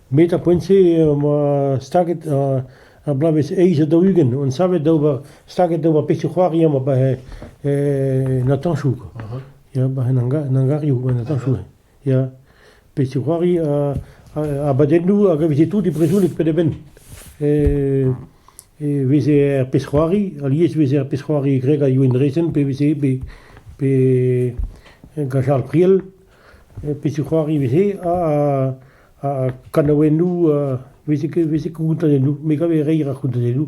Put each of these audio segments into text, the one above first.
met ar poent-se em boa staget ar bloavezh eizh ha daou-ugent on savet d'ober staget d'ober pezhioù-c'hoari amañ 'ba he natañsoù ya 'ba en hangarioù 'ba natañsoù ya pezhioù c'hoari abadennoù hag a veze tout e brezhoneg penn-ha-benn. E veze er pezh-c'hoari, alies e veze er pezh-c'hoari greg ha Youenn Drezen pe veze pe gant Charles Priel. Pezhioù-c'hoari veze ha kanaouennoù veze koutanennoù. Me gave reiñ ar c'houtanennoù.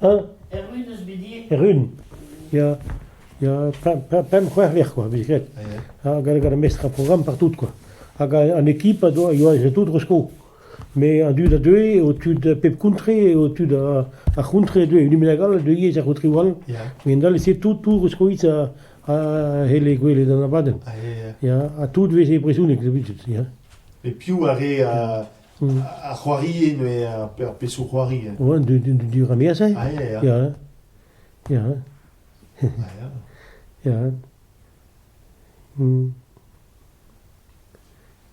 Hañ ? Erru 'neus bet ivez ? Errun, ya, ya pemp pemp pemp c'hwec'h vec'h kwa, vez graet. Ha gant gant ar mestr ar programm partout kwa. Hag an ekip a doa, a oa tout resko. Met an dud a deue eo tud pep kontre, eo tud ar c'hontre a deue un hini bennak all a deue ivez er c'hontrioù all. Gendall e-se tout tout reskoit a c'helle gwelet an abadenn. Ya, ha tout 'veze brezhoneg daoust ya. E piv a rae a c'hoarie neuze ar pesoù-c'hoari. An diramerezh, ah ya, ya. Ya, ya. Ya.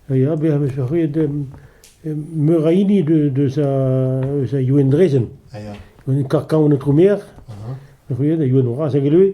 Ya, bezañ vet arruet meur a hini deus a Youenn Drezen. Youenn Karkaon an Aotromer, arruet a Youenn Raz a Gelwe.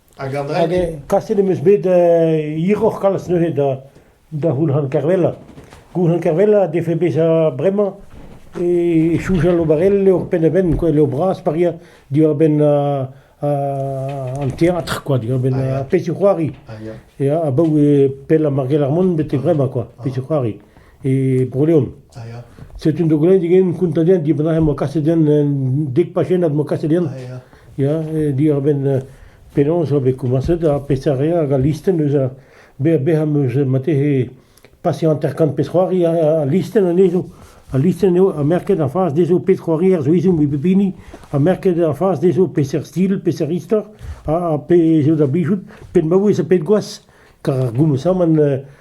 Hag Andrek Kaset em eus bet hiroc'h kalz neuze da da Goulc'han Kervella. Goulc'han Kervella a defe bezañ bremañ e soujal ober el levr penn-ha-benn, quoi, levr bras paria diwar-benn an teatr, quoi, diwar-benn pezhioù-c'hoari. Ya, abaoe pell ar Margel ar Mont betek bremañ, quoi, pezhioù-c'hoari. e Bro-Leon. Ah, ya. Setu un dogledig int kontañ din dibab neuze m'o kaset din en dek pachennad m'o kaset din. Ah, ya. Ya, e diwar-benn euh, penaos eo bet komañset ha peseurt re hag al listenn eus a be- bezañ am eus marteze paseañ hanter-kant pezh-c'hoari ha- al listenn anezho. Al listenn eo ha merket a fas dezho pezh-c'hoarier zo ezhomm evit pep hini ha merket a fas dezho peseurt stil, peseurt istor ha, ha pe zo da blijout pet maouez ha pet gwaz. Kar ar goumoù-saman euh,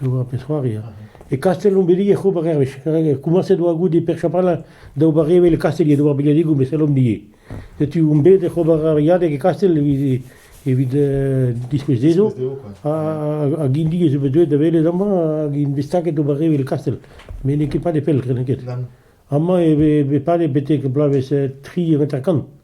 D'ober pezh-c'hoari a ra. E Kastell omp bet ivez ober hervez. Komañset oa goude Pêr Chapralin da ober evel e Kastell, d'ober biliadegoù, met sellomp ivez. Setu omp bet oc'h ober ur biliadeg e Kastell evit, evit uh, diskouez dezho. Ha, hag hini ez eo bet deuet da welet amañ hag int bet staget d'ober evel e Kastell. Met n'eo ket pad e pell, kreden ket. Amañ e vez pad betek bloavezh tri hanter-kant.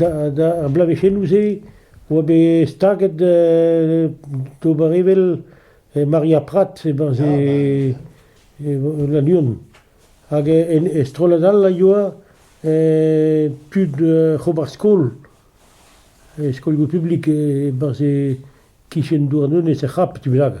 ar bloavezhennoù-se e oa bet staget d'ober evel Maria Prat e-barzh Lannuon hag e strollad all a yoa tud ober skol, skolioù publik e-barzh e-kichen Douarnenez er C'hap, e ti bennak.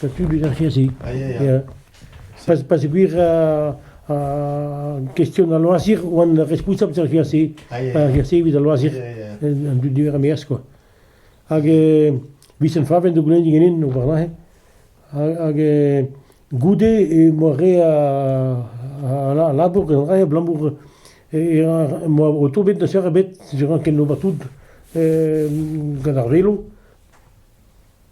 Setu bezañ cheñch-se. Peogwir kestion al loazir oan responsabl d'ar cheñch-se, ar cheñch-se evit al loazir an dud niver a-maez kwa. Hag vizen favenn da goulenn diganin warnahe. Hag goude emañ re a labour gant re abalamour emañ o tont bet n'eus eur ebet, ne ran ket ober tout gant ar velo.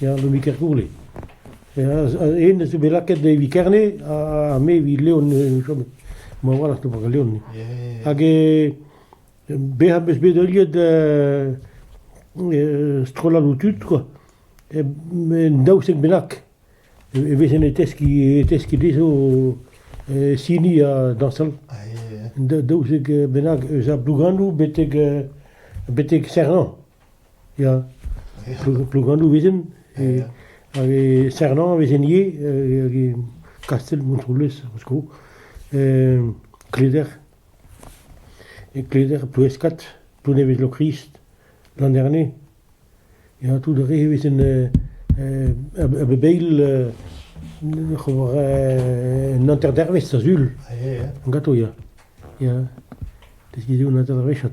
Ya, Lomi Kergourle. Hennezh zo bet lakaet evit Kerne ha me evit Leon e chom. Ma walc'h eo Leon. Hag bezañ am eus bet heuliet strolladoù tud, quoi. En daousek bennak e vezen e teskiñ e teskiñ dezho sini ha dañsal. Daousek bennak eus ar Blouganou betek betek Serran. Ya, Plouganoù vezent, hag e Sernan vezent ivez, hag e Kastell Montroulez ar sko, Kleder, e Kleder, Ploueskat, Plounevez-Lokrist, Landerne, ya, tout ar re vezent a bep eil oc'h ober un hanter-dervezh da sul, gato ya, ya, deskiñ eo un hanter-dervezh.